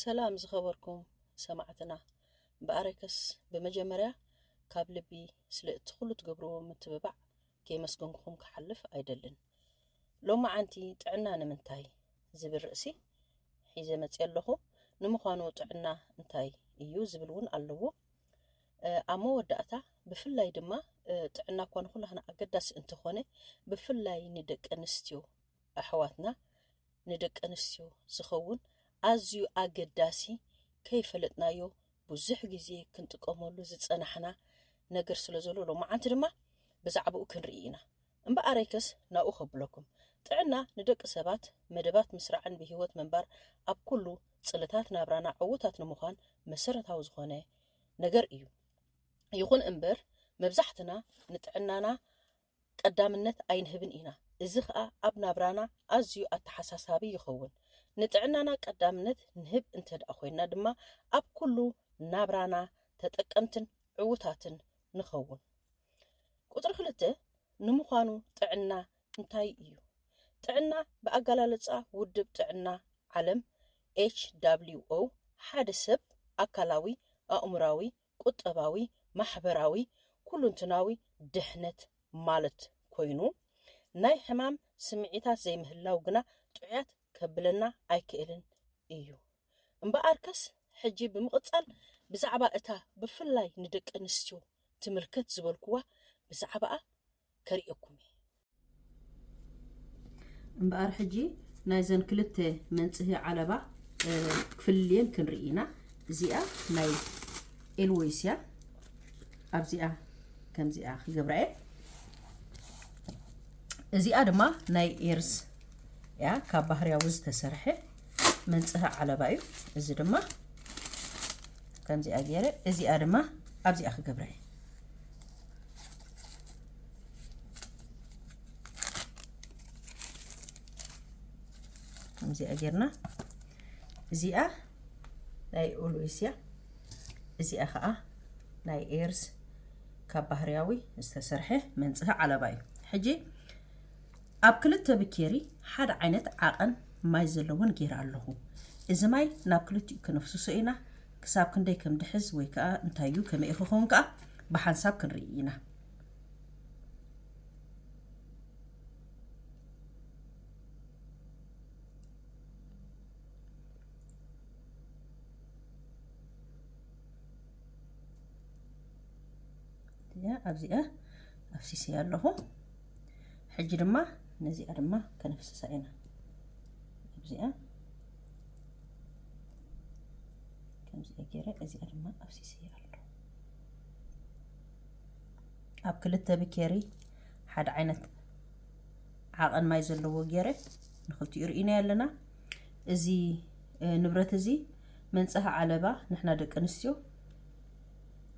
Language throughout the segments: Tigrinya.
ሰላም ዝኸበርኩም ሰማዕትና እምበኣረከስ ብመጀመርያ ካብ ልቢ ስለ እቲ ኩሉ ትገብርዎ ምትብባዕ ከየመስገንኩኹም ክሓልፍ ኣይደልን ሎማዓንቲ ጥዕና ንምንታይ ዝብል ርእሲ ሒዘ መፅየ ኣለኹ ንምዃኑ ጥዕና እንታይ እዩ ዝብል እውን ኣለዎ ኣብ መወዳእታ ብፍላይ ድማ ጥዕና እኳ ንኩላህና ኣገዳሲ እንተኾነ ብፍላይ ንደቂ ኣንስትዮ ኣሕዋትና ንደቂ ኣንስትዮ ዝኸውን ኣዝዩ ኣገዳሲ ከይፈለጥናዮ ብዙሕ ግዜ ክንጥቀመሉ ዝጸናሕና ነገር ስለ ዘሎ ሎማዓንቲ ድማ ብዛዕባኡ ክንርኢ ኢና እምበኣረይከስ ናብኡ ከብለኩም ጥዕና ንደቂ ሰባት መደባት ምስራዕን ብህይወት ምንባር ኣብ ኩሉ ጽልታት ናብራና ዕውታት ንምዃን መሰረታዊ ዝኾነ ነገር እዩ። ይኹን እምበር መብዛሕትና ንጥዕናና ቀዳምነት ኣይንህብን ኢና። እዚ ኸኣ ኣብ ናብራና ኣዝዩ ኣተሓሳሳቢ ይኸውን። ንጥዕናና ቀዳምነት ንህብ እንተድኣ ኮይንና ድማ ኣብ ኩሉ ናብራና ተጠቀምትን ዕውታትን ንኸውን። ቁጽሪ ክልተ ንምዃኑ ጥዕና እንታይ እዩ ጥዕና? ብኣገላልጻ ውድብ ጥዕና ዓለም፣ HWO፣ ሓደ ሰብ ኣካላዊ፣ ኣእምሮኣዊ፣ ቁጠባዊ፣ ማሕበራዊ፣ ኩሉንትናዊ ድሕነት ማለት ኮይኑ፣ ናይ ሕማም ስምዒታት ዘይምህላው ግና ጥዑያት ከብለና ኣይክእልን እዩ። እምበኣርከስ ሕጂ ብምቕጻል ብዛዕባ እታ ብፍላይ ንደቀንስትዮ ትምልከት ዝበልኩዋ ብዛዕባኣ ከርእየኩም እየ። እምበኣር ሕጂ ናይዘን ክልተ መንጽሂ ዓለባ ክፍልልየን ክንርኢ ኢና። እዚኣ ናይ ኤልወይስ እያ። ኣብዚኣ ከምዚኣ ክገብራ እየ። እዚኣ ድማ ናይ ኤርዝ እያ ካብ ባህርያዊ ዝተሰርሐ መንጽሂ ዓለባ እዩ። እዚ ድማ ከምዚኣ ገይረ እዚኣ ድማ ኣብዚኣ ክገብራ እየ። ከምዚኣ ጌርና እዚኣ ናይ ኦልዌስ እያ እዚኣ ከዓ ናይ ኤርስ ካብ ባህርያዊ ዝተሰርሐ መንፅሂ ዓለባ እዩ ሕጂ ኣብ ክልተ ብኬሪ ሓደ ዓይነት ዓቐን ማይ ዘለዎን ጌይረ ኣለኹ እዚ ማይ ናብ ክልቲኡ ክነፍስሶ ኢና ክሳብ ክንደይ ከም ድሕዝ ወይ ከኣ እንታይ እዩ ከመይ ክኸውን ከኣ ብሓንሳብ ክንርኢ ኢና። ኣብዚኣ ኣፍሲሰ ኣለኹ ሕጂ ድማ ነዚኣ ድማ ከነፍስሳ ኢና ኣብዚኣ ከምዚ ገይረ እዚኣ ድማ ኣብሲሲ ኣሎ ኣብ ክልተ ብኬሪ ሓደ ዓይነት ዓቐን ማይ ዘለዎ ገይረ ንክልቲኡ ርኢና ኣለና እዚ ንብረት እዚ መንፀሃ ዓለባ ንሕና ደቂ ኣንስትዮ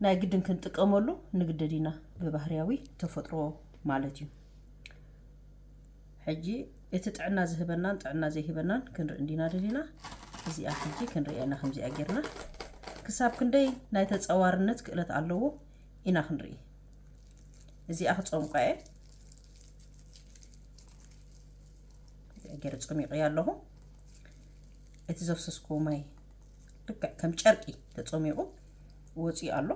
ናይ ግድን ክንጥቀመሉ ንግደድ ኢና ብባህርያዊ ተፈጥሮ ማለት እዩ ሕጂ እቲ ጥዕና ዝህበናን ጥዕና ዘይህበናን ክንርኢ እንዲና ደሊና እዚኣ ሕጂ ክንሪኣ ኢና ከምዚኣ ጌርና ክሳብ ክንደይ ናይ ተጸዋርነት ክእለት ኣለዎ ኢና ክንርኢ እዚኣ ክጸምቋ እየ እዚኣ ገይረ ጸሚቑያ ኣለኹ እቲ ዘፍሰስኩ ማይ ልክዕ ከም ጨርቂ ተጸሚቑ ወፂኡ ኣሎ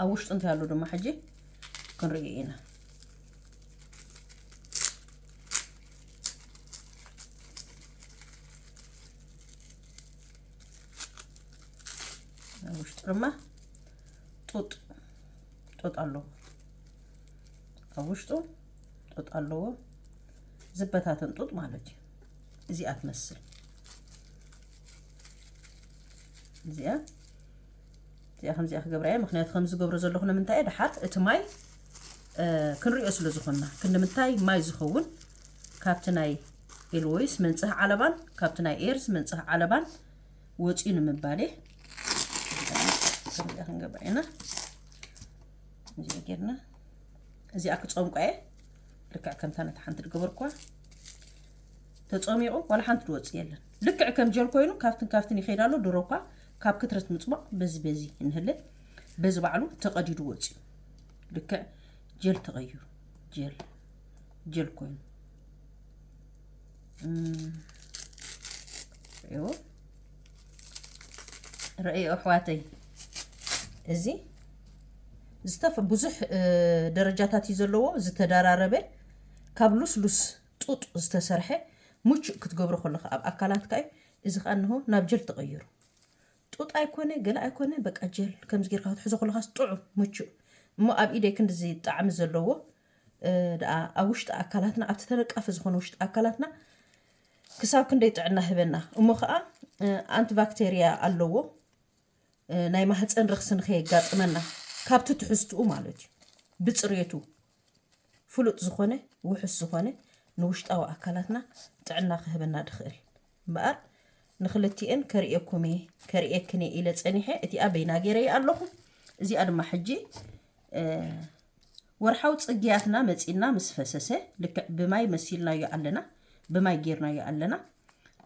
ኣብ ውሽጡ እንታይ ኣሎ ድማ ሕጂ ክንሪኦ ኢና ኣብ ውሽጡ ድማ ጡጥ ጡጥ ኣለዎ ኣብ ውሽጡ ጡጥ ኣለዎ ዝበታተን ጡጥ ማለት እዩ እዚኣ ትመስል እዚኣ እዚኣ ከምዚኣ ክገብራ እየ ምክንያቱ ከምዚ ዝገብሮ ዘለኹ ንምንታይ እየ ድሓር እቲ ማይ ክንሪኦ ስለ ዝኾንና ክንምንታይ ማይ ዝኸውን ካብቲ ናይ ኤልወይስ መንጽህ ዓለባን ካብቲ ናይ ኤርዝ መንጽህ ዓለባን ወፅኡ ንምባል እየ ከምዚኣ ክንገብር ኢና እዚኣ ጌርና እዚኣ ክፀምቋ እየ ልክዕ ከምታ ነቲ ሓንቲ ድገበርኳ ተፀሚቑ ዋላ ሓንቲ ድወፅእ የለን ልክዕ ከም ጀል ኮይኑ ካብትን ካብትን ይኸይድ ኣሎ ድሮ እኳ ካብ ክትረት ምጽቧቕ በዚ በዚ እንህለ በዚ ባዕሉ ተቐዲዱ ወጺኡ ልክዕ ጀል ተቐይሩ ጀል ጀል ኮይኑ ሪእዎ ርእዮ ኣሕዋተይ እዚ ዝተፈ ብዙሕ ደረጃታት እዩ ዘለዎ ዝተደራረበ ካብ ሉስሉስ ጡጥ ዝተሰርሐ ሙቹእ ክትገብሮ ከለካ ኣብ ኣካላትካ እዩ እዚ ከኣ እንሆ ናብ ጀል ተቀይሩ። ጡጥ ኣይኮነ ገለ ኣይኮነ በቃ ጀል ከምዚ ጌርካ ክትሕዞ ከለካስ ጥዑም ምቹእ እሞ ኣብ ኢደይ ክንድዚ ጣዕሚ ዘለዎ ደኣ ኣብ ውሽጢ ኣካላትና ኣብቲ ተነቃፊ ዝኾነ ውሽጢ ኣካላትና ክሳብ ክንደይ ጥዕና ህበና እሞ ከኣ ኣንቲባክቴርያ ኣለዎ ናይ ማህፀን ረኽሲ ንከየጋጥመና ካብቲ ትሕዝትኡ ማለት እዩ ብፅሬቱ ፍሉጥ ዝኾነ ውሑስ ዝኾነ ንውሽጣዊ ኣካላትና ጥዕና ክህበና ድኽእል እምበኣር ንኽልቲኤን ከርእየኩምየ ከርእየክንየ ኢለ ጸኒሐ እቲኣ በይና ገይረየ ኣለኹ እዚኣ ድማ ሕጂ ወርሓዊ ጽግያትና መጺና ምስ ፈሰሰ ልክዕ ብማይ መሲልናዮ ኣለና ብማይ ጌርናዮ ኣለና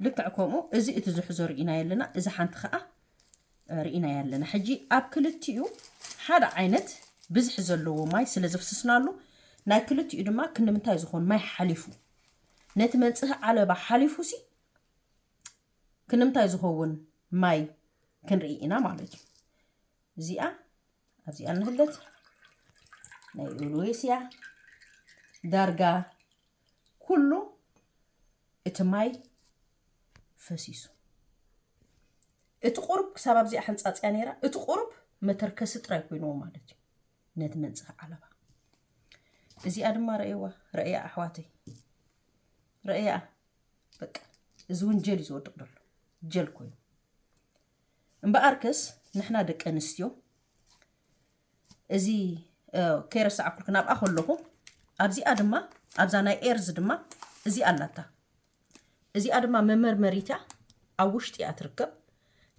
ልክዕ ከምኡ እዚ እቲ ዝሕዞ ርኢናዮ ኣለና እዚ ሓንቲ ከዓ ርኢናያ ኣለና ሕጂ ኣብ ክልቲኡ ሓደ ዓይነት ብዝሒ ዘለዎ ማይ ስለ ዘፍስስናሉ ናይ ክልቲኡ ድማ ክንምንታይ ዝኾን ማይ ሓሊፉ ነቲ መንጽሂ ዓለባ ሓሊፉ ሲ ክንምንታይ ዝኸውን ማይ ክንርኢ ኢና ማለት እዩ እዚኣ ኣብዚኣ ንህለት ናይ ኦልዌስ እያ ዳርጋ ኩሉ እቲ ማይ ፈሲሱ እቲ ቁርብ ክሳብ ኣብዚኣ ሓንጻጽያ ነይራ እቲ ቁርብ መተርከሲ ጥራይ ኮይኑዎ ማለት እዩ ነቲ መንጽፍ ዓለባ እዚኣ ድማ ረእየዋ ረእያ ኣሕዋተይ ረእያ በቃ እዚ እውን ጀል እዩ ዝወድቕ ደሎ ጀል ኮይኑ እምበኣርከስ ንሕና ደቂ ኣንስትዮ እዚ ከይረሳዕኩልክ ናብኣ ከለኹ ኣብዚኣ ድማ ኣብዛ ናይ ኤርዝ ድማ እዚ ኣላታ እዚኣ ድማ መመርመሪት እያ ኣብ ውሽጢ እያ ትርከብ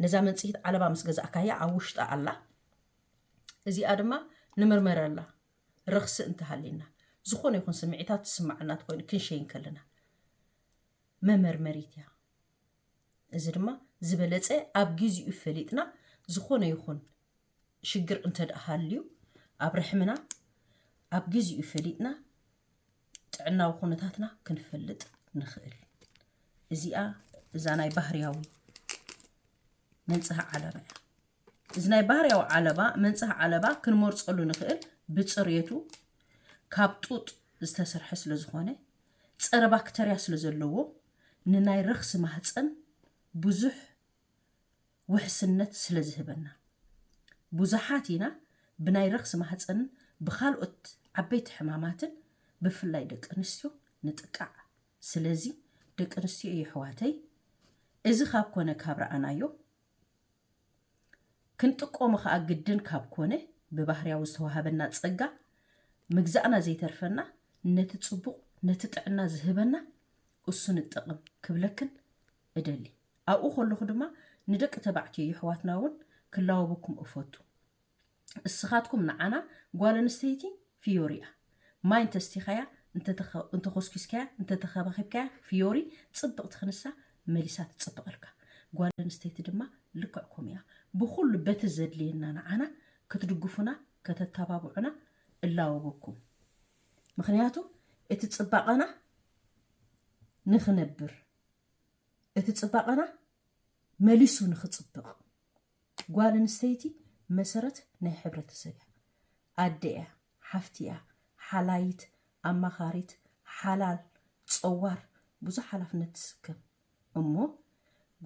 ነዛ መንጽሂት ዓለባ ምስ ገዛእካያ ኣብ ውሽጣ ኣላ እዚኣ ድማ ንመርመረላ ረኽሲ እንተሃሊና ዝኾነ ይኹን ስምዒታት ዝስማዓና ትኮይኑ ክንሸይን ከለና መመርመሪት እያ እዚ ድማ ዝበለፀ ኣብ ግዚኡ ፈሊጥና ዝኾነ ይኹን ሽግር እንተደኣ ሃልዩ ኣብ ርሕምና ኣብ ግዚኡ ፈሊጥና ጥዕናዊ ኩነታትና ክንፈልጥ ንኽእል። እዚኣ እዛ ናይ ባህርያዊ መንጽህ ዓለባ እያ። እዚ ናይ ባህርያዊ ዓለባ መንጽህ ዓለባ ክንመርጸሉ ንኽእል ብጽሬቱ ካብ ጡጥ ዝተሰርሐ ስለ ዝኾነ ጸረ ባክተርያ ስለ ዘለዎ ንናይ ረኽሲ ማህፀን ብዙሕ ውሕስነት ስለ ዝህበና። ብዙሓት ኢና ብናይ ረኽሲ ማህጸንን ብኻልኦት ዓበይቲ ሕማማትን ብፍላይ ደቂ ኣንስትዮ ንጥቃዕ። ስለዚ ደቂ ኣንስትዮ የሕዋተይ እዚ ካብ ኮነ ካብ ረኣናዮ ክንጥቆሞ ከኣ ግድን ካብ ኮነ ብባህርያዊ ዝተዋሃበና ጸጋ ምግዛእና ዘይተርፈና ነቲ ጽቡቕ ነቲ ጥዕና ዝህበና እሱ ንጠቕም ክብለክን እደሊ። ኣብኡ ከለኹ ድማ ንደቂ ተባዕትዮ የሕዋትና እውን ክላወበኩም እፈቱ። እስኻትኩም ንዓና ጓል ኣንስተይቲ ፍዮሪ እያ። ማይ እንተ ኣስቲኻያ፣ እንተ ኮስኪስካያ፣ እንተ ተኸባኺብካያ ፍዮሪ ጽብቕቲ ክንሳ መሊሳ ትጽብቐልካ። ጓል ኣንስተይቲ ድማ ልክዕ ከምኡ እያ። ብኹሉ በቲ ዘድልየና ንዓና ክትድግፉና ከተተባብዑና እላወበኩም። ምኽንያቱ እቲ ጽባቐና ንኽነብር። እቲ ጽባቐና መሊሱ ንኽጽብቕ ጓል ኣንስተይቲ መሰረት ናይ ሕብረተሰብ እያ። ኣደ እያ፣ ሓፍቲ እያ፣ ሓላይት፣ ኣማኻሪት፣ ሓላል፣ ጸዋር፣ ብዙሕ ሓላፍነት ትስከም። እሞ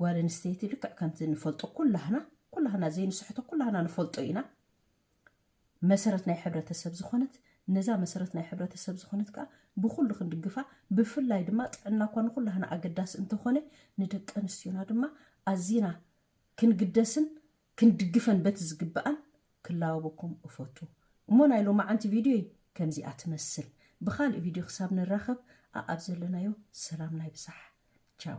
ጓል ኣንስተይቲ ልክዕ ከምቲ ንፈልጦ ኩላህና ኩላህና ዘይንስሕቶ ኩላህና ንፈልጦ ኢና። መሰረት ናይ ሕብረተሰብ ዝኾነት ነዛ መሰረት ናይ ሕብረተሰብ ዝኾነት ከኣ ብኹሉ ክንድግፋ ብፍላይ ድማ ጥዕና እኳ ንኹላህና ኣገዳሲ እንተኾነ ንደቂ ኣንስትዮና ድማ ኣዚና ክንግደስን ክንድግፈን በቲ ዝግብኣን ክላወበኩም እፈቱ እሞ ናይ ሎማዓንቲ ቪድዮይ ከምዚኣ ትመስል ብኻልእ ቪድዮ ክሳብ ንራኸብ ኣኣብ ዘለናዮ ሰላምና ይብዛሕ ቻው